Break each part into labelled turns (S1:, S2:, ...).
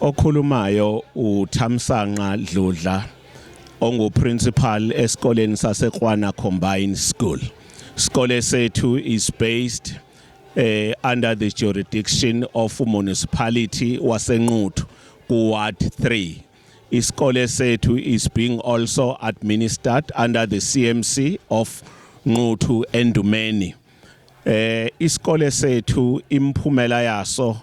S1: Okhulumayo uThamsanqa Dludla onguprincipal esikoleni saseKwana Combined School. Sikole sethu is based eh under the jurisdiction of municipality waseNquthu ku ward 3. Isikole sethu is being also administered under the CMC of Nquthu Endumeni. Eh isikole sethu imphumela yaso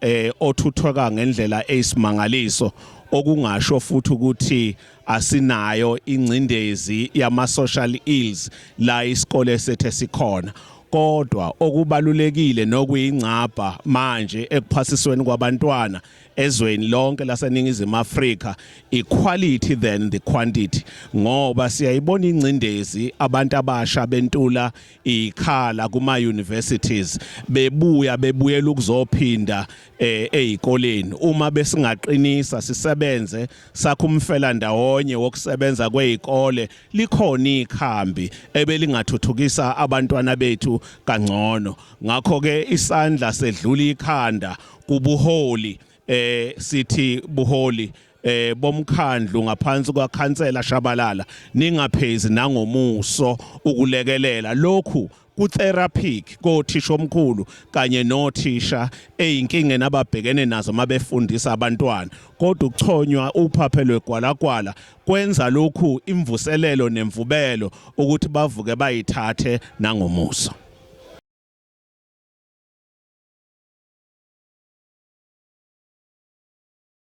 S1: eh othuthweka ngendlela eyisimangaliso okungasho futhi ukuthi asinayo ingcindezi yama social ills la isikole sethe sikhona kodwa okubalulekile nokuyingcabha manje ekuphasisweni kwabantwana ezweni lonke laseningizimu Afrika equality than the quantity ngoba siyayibona ingcindezi abantu abasha bentula ikhala kuma universities bebuya bebuyela ukuzophinda eh, ezikoleni uma besingaqinisa sisebenze sakho umfela ndawonye wokusebenza kwezikole likhona ikhambi ebelingathuthukisa abantwana bethu kangcono ngakho ke isandla sedlula ikhanda kubuholi eh sithi buholi eh bomkhandlu ngaphansi kwakhansela Shabalala ningaphezi nangomuso ukulekelela lokhu kutheraphic kothisha omkhulu kanye nothisha eyinkingeni ababhekene nazo mabefundisa abantwana kodwa ukuchonywa uphaphe lwegwalagwala kwenza lokhu imvuselelo nemvubelo ukuthi bavuke bayithathe nangomuso